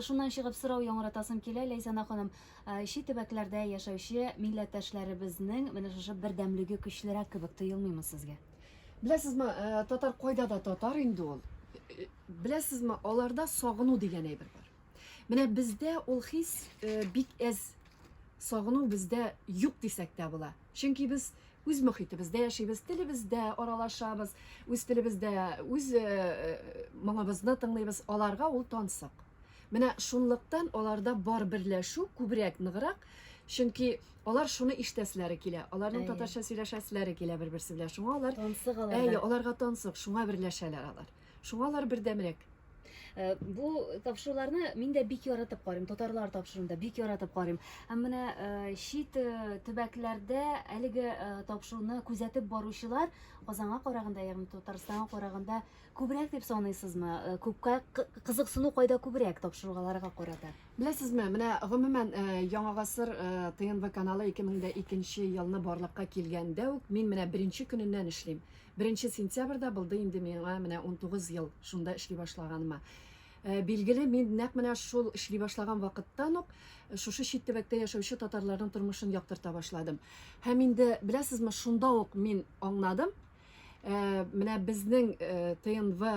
Шуннан чыгып, сорау яңгыратасым килә, Ләйсәнә ханым, чит төбәкләрдә яшәүче милләттәшләребезнең менә шушы бердәмлеге көчлерәк кебек тоелмыймы сезгә? Беләсезме, татар кайда да татар инде ул. Беләсезме, аларда сагыну дигән әйбер бар. Менә бездә ул хис бик әз. Сагыну бездә юк дисәк тә була. Чөнки без Үз мохитебездә яшибез, телебездә аралашабыз, үз телебездә үз моңыбызны тыңлыйбыз. Аларга ул тансык. Менә шунлыктан аларда бар берләшү күбрәк, ныграк, чөнки алар шуны ишетәселәре килә, аларның татарча сөйләшәселәре килә бер-берсе белән. Шуңа алар тансык аларга. Әйе, аларга тансык, шуңа берләшәләр алар. Шуңа алар бердәмрәк. Э, бу тапшыруларны мин дә бик яратып карыйм татарлар тапшыруын да бик яратып карыйм һәм менә э, чит э, төбәкләрдә әлеге тапшыруны күзәтеп баручылар казанга караганда ягъни татарстанга караганда күбрәк дип саныйсызмы күпкә кызыксыну кайда күбрәк тапшыруларга карата беләсезме менә гомумән яңа гасыр тнв каналы 2002 елны барлыкка килгәндә үк мин менә беренче көненнән эшлим Беренче сентябрьдә булды инде миңа менә унтугыз ел шунда эшли башлаганыма. Э, билгеле, мин нәкъ менә шул эшли башлаган вакыттан ук э, шушы чит төбәктә яшәүче татарларның тормышын яктырта башладым. Һәм инде, беләсезме, шунда ук мин аңладым, э, менә безнең ТНВ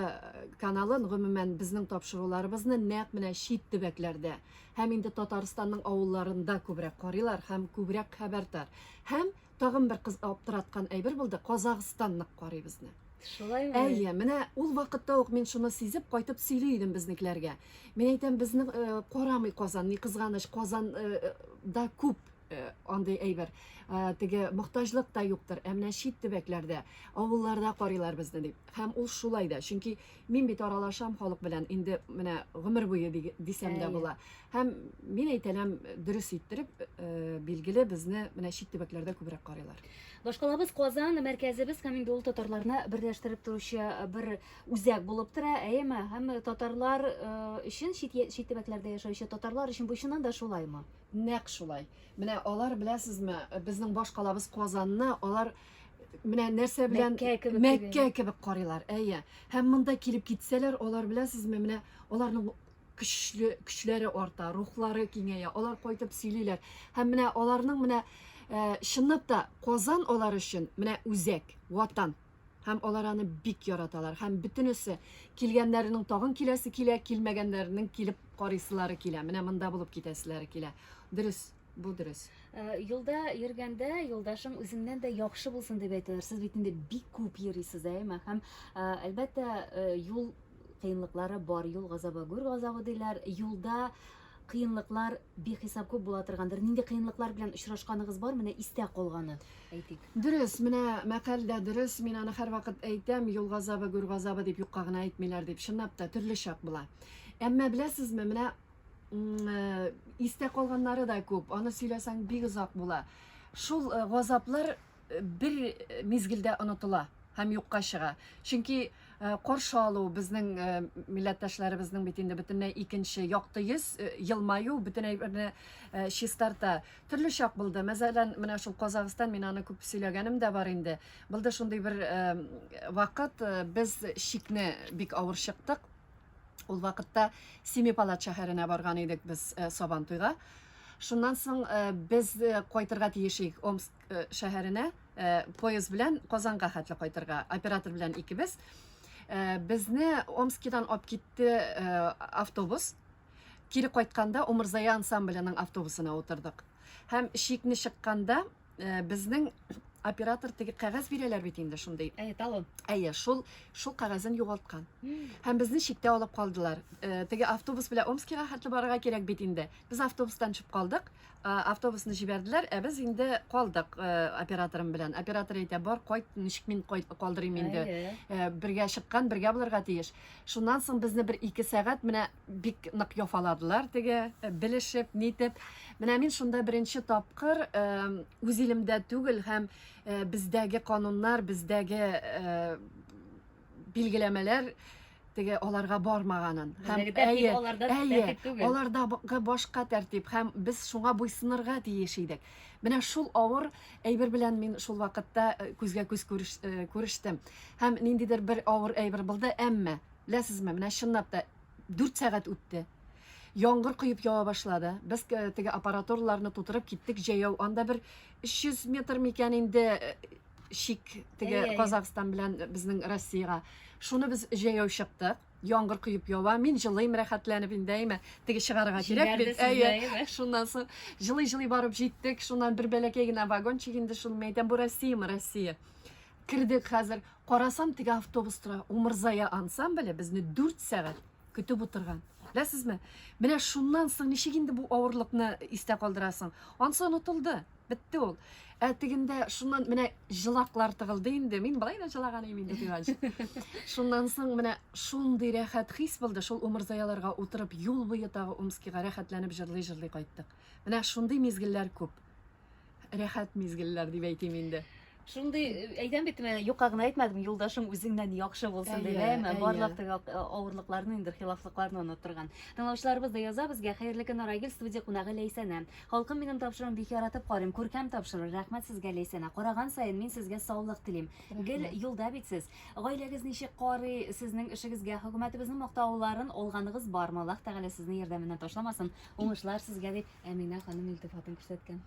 каналын, гомумән, безнең тапшыруларыбызны нәкъ менә чит төбәкләрдә һәм инде Татарстанның авылларында күбрәк карыйлар һәм күбрәк хәбәр тар. Һәм Тагын бер кыз аптыраткан әйбер булды, Казахстан нык карый безне. Шулаймы? Әйе, менә ул вакытта ук мин шуны сизеп кайтып сөйли идем безнекеләргә. Мин әйтәм, безне э, карамый Казан, ни кызганыч, Казан э, э да күп Э, андый әйбер э, теге мохтаҗлык та юктыр ә менә чит төбәкләрдә авылларда карыйлар безне дип һәм ул шулай да чөнки Мин бит аралашам халык белән инде менә гомер буе дисәм дә була. Һәм мин әйтәләм дөрес иттереп, э, билгеле безне менә чит төбәкләрдә күбрәк карыйлар. Башкалабыз Казан мәркәзебез һәм инде ул татарларны берләштереп торучы бер үзәк булып тора, әйеме? Һәм татарлар өчен чит чит төбәкләрдә яшәүче татарлар өчен бу чыннан да шулаймы? Нәкъ шулай. Менә алар беләсезме, безнең башкалабыз Казанны алар э, менә нәрсә белән мәккә кебек, мәккә кебек карыйлар әйе һәм монда килеп китсәләр алар беләсезме менә аларның көчле көчләре арта рухлары киңәя алар кайтып сөйлиләр һәм менә аларның менә ә, чынлап та казан алар өчен менә үзәк ватан һәм алар аны бик яраталар һәм бөтенесе килгәннәренең тагын киләсе килә килмәгәннәренең килеп карыйсылары килә менә монда булып китәселәре килә дөрес Бу дөрес. Э, юлда йөргәндә юлдашың үзеңнән дә яхшы булсын дип әйтәләр. Сез бит инде бик күп йөрисез, әйме? Һәм э, әлбәттә, э, юл кыенлыклары бар, юл газабы, гүр газабы диләр. Юлда кыенлыклар бихисап күп була торгандыр. Нинди кыенлыклар белән очрашканыгыз бар? Менә истә калганы, әйтик. Дөрес, менә мәкаль дә дөрес. Мин аны һәрвакыт әйтәм, юл газабы, гүр газабы дип юкка гына әйтмиләр дип. Чынлап та төрле чак була. Әмма беләсезме, менә М, э, Истә калганнары да күп. Аны сөйләсәң бик озак була. Шул э, газаплар э, бер э, мизгелдә онытыла һәм юкка чыга. Чөнки э, каршы алу безнең э, милләттәшләребезнең бит инде бөтенләй икенче якты йөз, э, елмаю бөтен әйберне э, чистарта. Төрле чак булды. Мәсәлән, менә шул Казахстан, мин аны күп сөйләгәнем дә бар инде. Булды шундый бер э, вакыт, э, без чикне бик авыр чыктык. Ул вакытта Семипалат шәһәренә барган идек без э, Сабан туйга. Шуннан соң э, без э, кайтырга тиеш идек Омск э, шәһәренә, э, поезд белән Казанга хәтле кайтырга. Оператор белән икебез. Э, безне Омскидан алып китте э, автобус. Кире кайтканда Умырзая ансамбленең автобусына утырдык. Һәм шикне чыкканда Э, безнең оператор теге кәгазь бирәләр бит инде шундый. Әйе, талон. Әйе, шул шул кәгазен югалткан. Һәм безне читтә алып калдылар. Э, теге автобус белән Омскига хәтле барырга кирәк бит инде. Без автобустан төшеп калдык. Э, автобусны җибәрделәр, ә без инде калдык операторым белән. Оператор әйтә, бар, кайт, ничек мин калдырыйм инде. Бергә чыккан, бергә булырга тиеш. Шуннан соң безне бер ике сәгать менә бик нык яфаладылар теге э, белешеп нитеп менә мин шунда беренче тапкыр э, үз илемдә түгел һәм э, бездәге кануннар бездәге билгеләмәләр теге аларга бармаганын һәм әйе әйе аларда башка тәртип һәм без шуңа буйсынырга тиеш идек менә шул авыр әйбер белән мин шул вакытта күзгә күз күрештем һәм ниндидер бер авыр әйбер булды әмма Беләсезме, менә чынлап та дүрт сәгать үтте. Яңгыр коеп ява башлады. Без теге аппаратураларны тутырып киттек җәяү. Анда бер 300 метр микән инде э, шик теге Казахстан белән безнең Россиягә. Шуны без җәяү чыктык. Яңгыр коеп ява. Мин җылыйм рәхәтләнеп инде, әйме, теге чыгарга кирәк бит. Әйе. Шуннан соң җылый-җылый барып җиттек. Шуннан бер бәләкәй генә вагончик инде шул мәйдан бу Россиямы, Россия. Кирдек хәзер. Карасам, теге автобус тора. Умырзая ансамбле безне 4 сәгать көтеп утырган. Беләсезме? Менә шуннан соң ничек инде бу авырлыкны истә калдырасың? Ансы онытылды. Бетте ул. Ә тегендә шуннан менә җылаклар тыгылды инде. Мин былай да җылаган идем инде дигәнче. Шуннан соң менә шундый рәхәт хис булды. Шул умырзаяларга утырып, юл буе тагы Омскига рәхәтләнеп җырлый-җырлый кайттык. Менә шундый мизгелләр күп. рәхәт мизгелләр дип әйтим инде. Шундый э, әйтәм бит мен юкка гына әйтмәдем, юлдашың үзеңнән яхшы булсын дип, әйме? Барлык теге э, авырлыкларны, инде хилафлыкларны оныттырган. Тыңлаучыларыбыз да яза безгә Хәерле көн Арагил студия кунагы Ләйсәнә. Халкым минем тапшыруын бик яратып карыйм. Күркәм тапшыру. Рәхмәт сезгә Ләйсәнә. Караган саен мин сезгә саулык телим. Гел юлда бит сез. Гаиләгез ничек карый, сезнең эшегезгә хөкүмәтебезнең мактауларын алганыгыз бармы? Аллаһ Тәгалә сезне ярдәменнән ташламасын. Уңышлар сезгә, дип Әминә ханым илтифатын күрсәткән.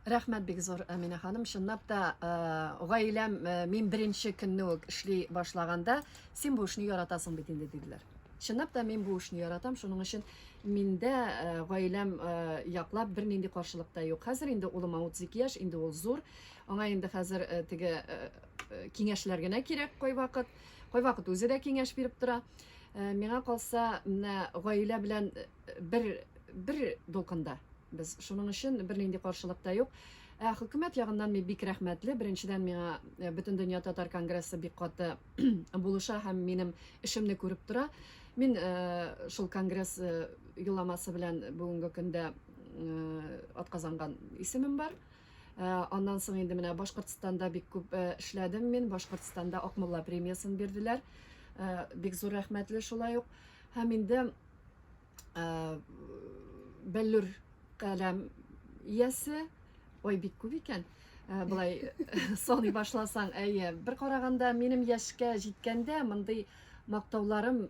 Рәхмәт бик зур, Әминә ханым. Чынлап та, э, гаиләм, э, мин беренче көнне үк эшли башлаганда, син бу эшне яратасың бит инде, диделәр. Чынлап та, мин бу эшне яратам, шуның өчен миндә э, гаиләм э, яклап бернинди каршылык та юк. Хәзер инде улыма 32 яшь, инде ул зур. Аңа инде хәзер э, теге э, э, киңәшләр генә кирәк кайвакыт. Кайвакыт үзе дә киңәш биреп тора. Э, Миңа калса, менә гаилә белән бер бер дулкында без шуның өчен бернинди каршылык та юк. Ә хөкүмәт ягыннан мин бик рәхмәтле. Беренчедән, миңа э, Бөтендөнья татар конгрессы бик каты булыша һәм минем эшемне күреп тора. Мин э, шул конгресс э, юламасы белән бүгенге көндә атказанган исемем бар. Аннан соң инде менә Башкортстанда бик күп эшләдем мин. Башкортстанда Акмулла премиясын бирделәр. Бик зур рәхмәтле шулай ук. Һәм инде бәллүр каләм иясе ой бик күп икән ә, былай саный башласаң әйе бер караганда минем яшькә җиткәндә мондый мактауларым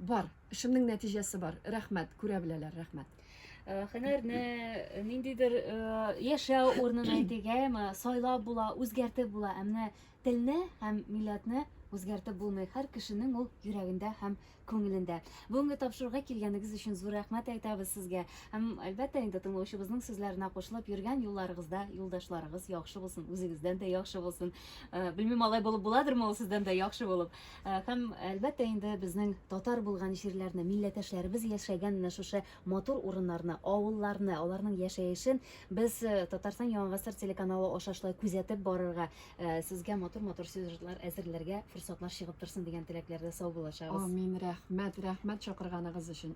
бар эшемнең нәтиҗәсе бар рәхмәт күрә беләләр рәхмәт Э, һөнәрне э, ниндидер э, яшәү урынын әйтик әйеме сайлап була үзгәртеп була ә менә телне һәм милләтне үзгәртеп булмый һәр кешенең ул йөрәгендә һәм күңелендә. Бүгенге тапшыруга килгәнегез өчен зур рәхмәт әйтәбез сезгә. Һәм, әлбәттә инде, тыңлаучыбызның сүзләренә кушылып, йөргән юлларыгызда юлдашларыгыз яхшы булсын, үзегездән дә яхшы булсын. Белмим, алай булып буладырмы ул сездән дә яхшы булып. Һәм, әлбәттә инде, безнең татар булган җирләрне, милләтәшләребез яшәгән менә шушы матур урыннарны, авылларны, аларның яшәешен без Татарстан Яңа гасыр телеканалы аша шулай күзәтеп барырга, Сезгә матур-матур сюжетлар әзерләргә форсатлар чыгып торсын дигән теләкләрдә сау булачагыз. Амин, рәхмәт, рәхмәт чакырганыгыз өчен.